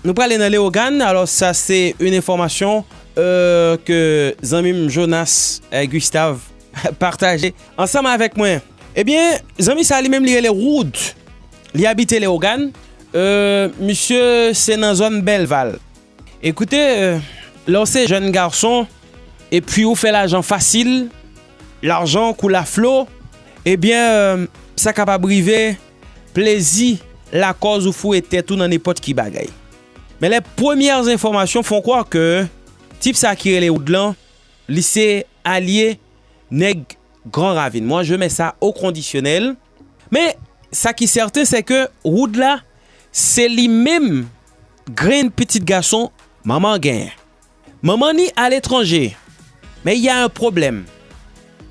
Nou prale nan Leogane, alos sa se yn enfomasyon ke zanmim Jonas Gustave pataje ansanm avek mwen. Ebyen zanmi sa li menm li rele Rood, li abite Leogane, misye se nan zon Belval. Ekoute lèw se jèn garson epwi ou fè lajan fasil, lajan koule a flo, ebyen sa kapab rive. Plezi lakòz ou foure tèt ou nan nenpòt ki bagay. Men lè premyè enfòmasyon fon kwè ke tip sa ki rele Wood lan li se alye nèg Gran Ravin. Mwa je mè sa o kondisyonèl. Men sa ki sèten se ke Wood la se li menm grenn pitit gason manman genyen. Maman ni a letranje, men il y a un problème.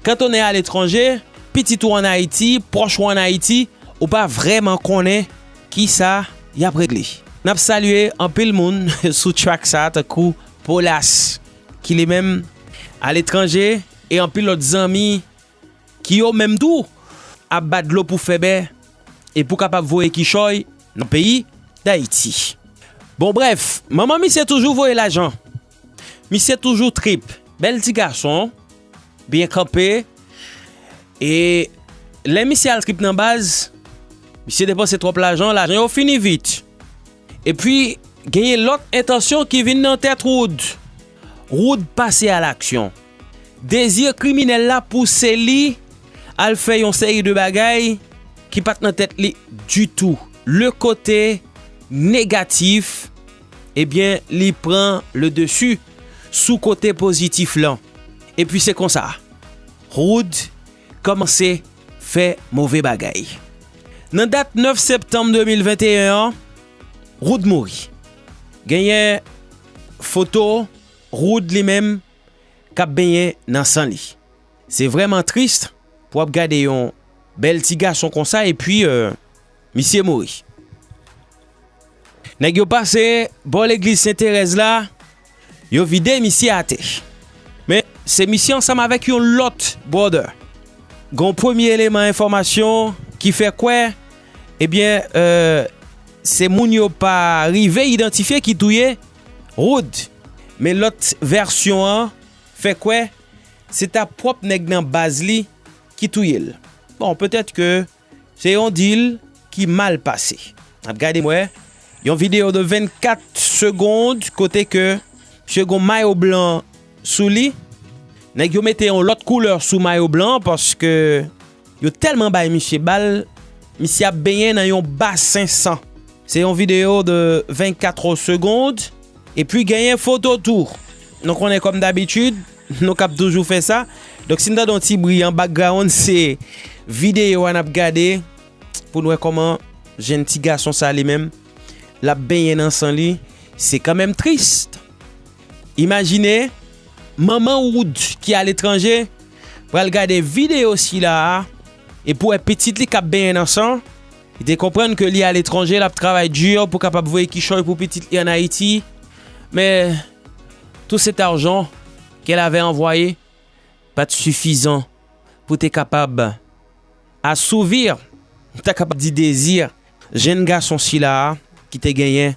Quand on est à l'étranger, pitit ou an Ayiti, pwòch ou an Ayiti, ou pa vrèman konnen ki sa y ap regle. N ap salye anpil moun sou track sa a tankou Polas ki li menm a letranje e anpil lòt zanmi. Ki yo menm tou ap bat dlo pou fè bè e pou kapab voye kichòy nan peyi Dayiti. Bon brèf, manman misye toujou voye lajan. Misye toujou trip. Bèl ti gason, byen kanpe. E lè misye al trip nan baz, misye depanse twòp lajan, lajan yo fini vit. Epi genyen lòt entansyon ki vin nan tèt Wood. Wood pase a laksyon. Dezi kriminèl la pouse li al fè yon seri de bagay ki pat nan tèt li ditou. Le kote negatif ebyen li pran le desi sou kote pozitif lan. Epi se konsa Wood kòmanse fè move bagay. Nan dat 9 septanm 2021 an, Rood mouri. Genyen foto Rood li menm k ap benyen nan san li. Se vrèman tris pou w ap gade yon bèl ti gason konsa epi misye mouri. Nèg yo pase bò legliz Sen Terèz la, Yo vide misye atè. Men, se misye ansanm avèk yon lòt brother. Gen yon premye eleman enfòmasyon ki fè kwè, ebyen, se moun yo pa rive idantifye ki touye Rood. Men lòt vèsyon an fè kwè se ta pwòp nèg nan baz li ki touye l. Bon, petèt ke Se yon deal ki mal pase. Nap gade mwen yon video de 24 segond kote ke misye gon mayo blan sou li. Nèg yo mete yon lòt koulè sou mayo blan an paske yo tèlman bay misye bal, misye ap benyen nan yon basen san. Se yon video de 24 segond. Epi genyen foto tou. Nou konnen kòm dabitid. Nou kap toujou fè sa. Donk si n tande yon ti bri an background se videyo a nap gade pou n wè kòman jenn ti gason sa li menm lap benyen nan san li. Se kanmenm trist. Imajine manman wood ki a letranje pral gade videyo sila a e pou wè pitit li kap benyen nan san. Li te konprann ke li a letranje lap travay di pou kapab voye kichòy pou pitit li an Ayiti men. Tout cet arjan kèl avè anvwaye pat sufizan pou te kapab asouvir, m ta kapab di dezir jenn gason sila a ki te genyen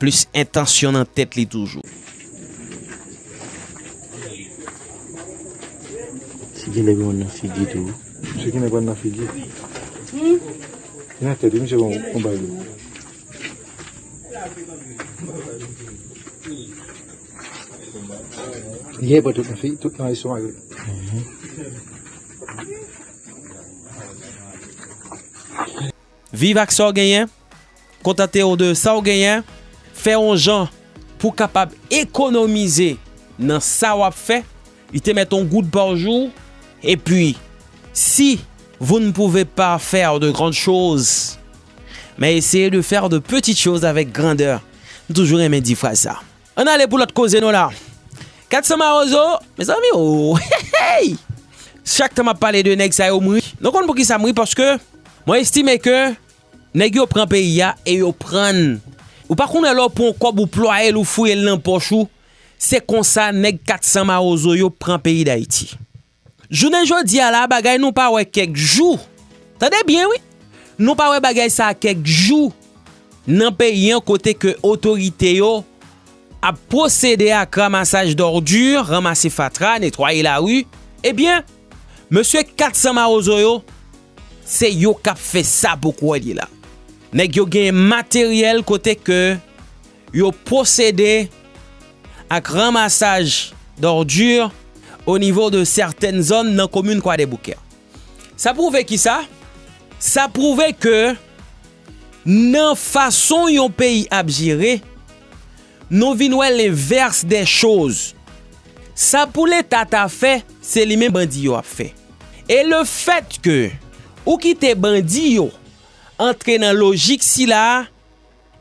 plis entansyon nan tèt li toujou. Si gen nèg nan figi tou wi. Misye gen nèg nan figi. Gen nan tèt wi misye gen yon bagay. Viv ak sa w genyen, kontante w de sa w genyen, fè yon jan pou w kapab ekonomize nan sa w ap fè. Li te met on goud par jour et puis si vous ne pouvez pas faire de grandes choses mais essayez de faire de petites choses avec grandeur. M toujou renmen di fraz sa. Ann ale pou lòt koze nou la. 400 mawozo, mezanmi oohh! Chak tan m ap pale de nèg sa yo m ri. Nou konn poukisa m ri? Paske mwen estime ke nèg yo pran peyi a e yo pran n. Ou pa konnen lè w pran yon kòb ou plwaye l ou fouye l nan pòch ou. Se konsa nèg 400 mawozo yo pran peyi Dayiti. Jounen jodi a la a bagay nou pa wè kèk jou, tande byen wi, nou pa wè bagay sa a kèk jou nan peyi an kote ke otorite yo ap pwosede ak ramasaj dòrdi, ranmase fatra, netwaye lari, ebyen mesye 400 mawozo yo se yo k ap fè sa pou kwè li la. Nèg yo gen materyèl kote ke Yo pwosede ak ranmasaj dòrdi o nivo de sètèn zòn nan komin Kwadèboukè. Sa pwouve ki sa? Sa pwouve ke nan fason yon peyi ap jere, nou vin wè lenvèrs dè choz. Sa pou leta ta fè, se li menm bandi yo ap fè. E le fèt ke ou kite bandi yo antre nan lojik sila a,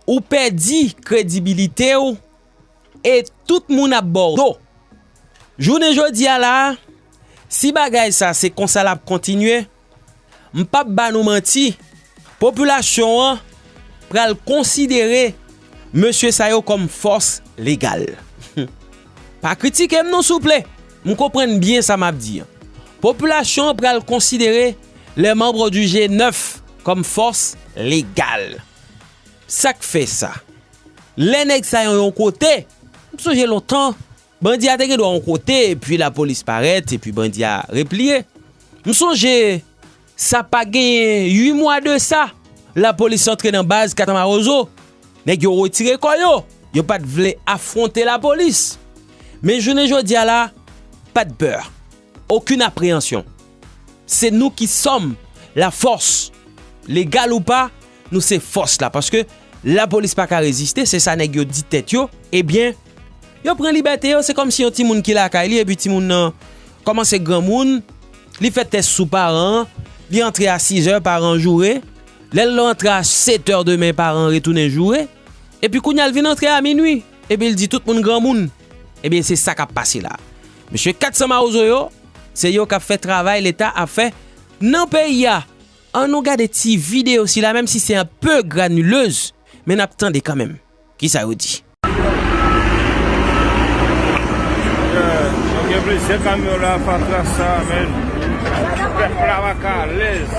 Ou pèdi kredibilite w e tout moun ap ba w do. Jounen jodi a la a, si bagay sa se konsa l ap kontinye, m p ap ba nou manti, popilasyon an pral konsidere mesye sa yo kòm fòs legal. Pa kritike m non souple, m konprann byen sa m ap di an. Popilasyon an pral konsidere les membres du G9 kòm fòs legal. Sak fè sa? Lè nèg sa yo yon kote, m sonje lontan, bandi a te gen dwa yon kote epi lapolis parèt epi bandi a repliye. M sonje sa pa genyen 8 mwa de sa, lapolis antre nan baz katamawozo, nèg yo retire kò yo, yo pa t vle afwonte lapolis. Men jounen jodi a la, pa de pè, okin apreyansyon. Se nou ki sòm la fòs. Legal ou pa, nou se fòs la. Paske la polis pa ka reziste, se sa nèg yo di tèt yo. Ebyen, yo pran libète yo, se kòmsi yon timoun ki lakay li, epi timoun nan kòmanse granmoun, li fè tès sou paran an, li antre a sizè, paran joure, lè l antre a setè demen, paran retounen joure, epi kounye a l vin antre a minui, epi l di tout moun granmoun. Ebyen, se sa k ap pase la. Mesye 400 mawozo yo, se yo kap fè travay leta ap fè nan peyi a. An nou gade ti video sila menm si se un peu granuleuse men nap tande kanmenm kisa yo di. Gen plizyè kamyon la fatra sa menn. Pèp la paka alèz.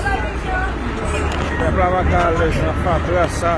Pèp la paka alèz nan fatra sa.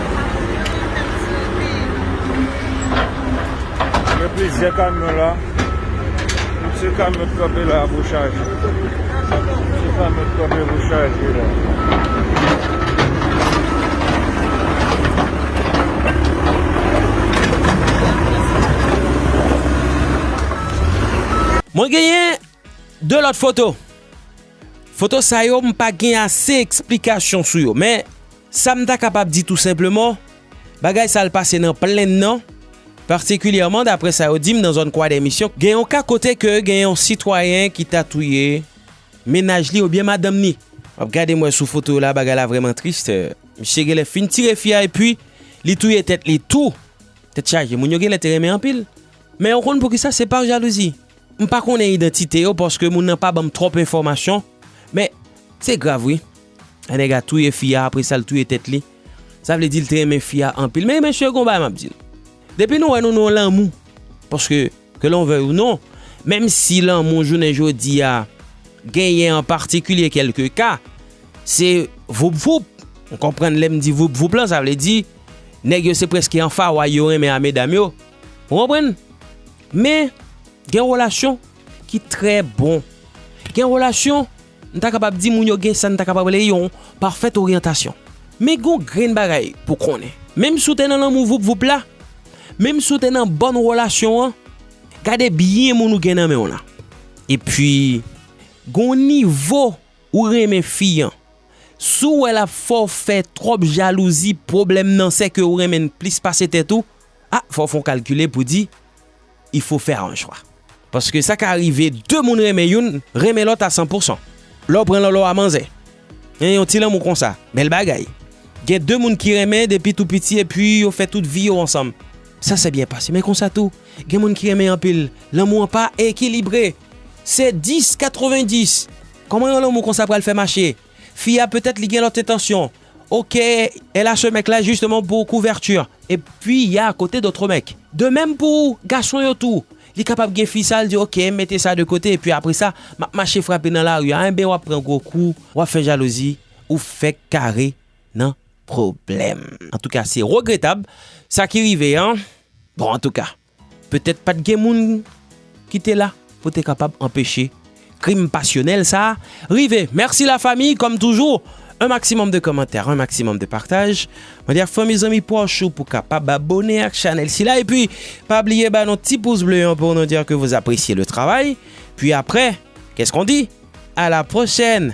Gen plizyè kamyon la. Tout se kamyon ki kanpe la pou chaje. Tout se kamyon ki kanpe pou chaje la. Mwen genyen 2 lòt foto. Foto sa yo m pa gen ase eksplikasyon sou yo men. Sa m ta kapab di tou senpleman, bagay sa l pase nan plenn nan, patikilyèman daprè sa yo di m nan zòn Kwadèmisyon, gen yon ka kote ke gen yon sitwayen ki ta touye mennaj li oubyen madanm ni. M ap gade m wè sou foto yo la bagay la vrèman tris, misye genlè fin tire fi a epi li touye tèt li tou, tèt chaje moun yo genlè te renmen anpil. Men ou konn poukisa se par jalouzi. M pa konnen idantite yo paske moun nan pa ban m twòp enfòmasyon men se grav wi. Nèg la touye fi a apre sa l touye tèt li. Sa vle di l te renmen fi a anpil. Men mesye gon bagay m ap di nou. Depi nou wè nou nan lanmou. Paske ke lon vèy ou non. Menm si lanmou jounen jodi a genyen an patikilye kelke ka. Se voup voup. Ou konprann lè m di voup voup lan. Sa vle di nèg yo se preske an faway yo renmen a medam yo. Ou konprann. Men gen relasyon ki trè bon. Gen relasyon. M ta kapab di moun yo gen sa n ta kapab rele yon pafèt oryantasyon. Men gen yon grenn bagay pou w konnen, menm si w te nan lanmou voup voup la, menm si w te nan bòn relasyon an, gade byen moun ou gen nan men w lan. Epi, gen yon nivo ou renmen fi an. Si w wè l ap fè w fè twòp jalouzi, pwoblèm nan se ke ou renmen l plis pase tèt ou, a fò w fè yon kalkile pou w di, il faut faire un choix. Paske sa ka rive 2 moun renmen youn, renmen lòt a 100 pou 100. Lè w pran Lòlò a manzè. Hein yon ti lanmou konsa. Bèl bagay. Gen 2 moun ki renmen depi tou piti epi yo fè tout vi yo ansanm. Sa sè byen pase. Men konsa tou, gen moun ki renmen anpil. Lanmou an pa ekilibre. Se 10, 90. Kòman yon lanmou konsa pral fè mache? Fi a peut-être li gen lot entansyon. Ok elle a ce mec là justement pour couverture. Et puis il y a à côté d'autres mecs. De même pour garçon yo tou. Li kapab gen fi sa li di ok mete sa de kote et puis après ça map mache frape nan lari a enben wap pran gwo kou wap fè jalouzi ou fèk kare nan problème. En tout cas c'est regrettable sa ki rive an bon en tout cas. Petèt pa t gen moun ki te la pou te kapab anpeche krim pasyonèl sa a rive. Mèsi la fami, kòm toujou, un maximum de kòmantè, un maximum de partaj. Mwen di ak fanmi, zanmi, pwòch ou pou kapab abone ak chanèl sila. Epi, pa bliye ba nou ti pous ble an pou nou di ke vous appréciez le travail. Puis après, qu'est-ce qu'on dit? A la pwochèn!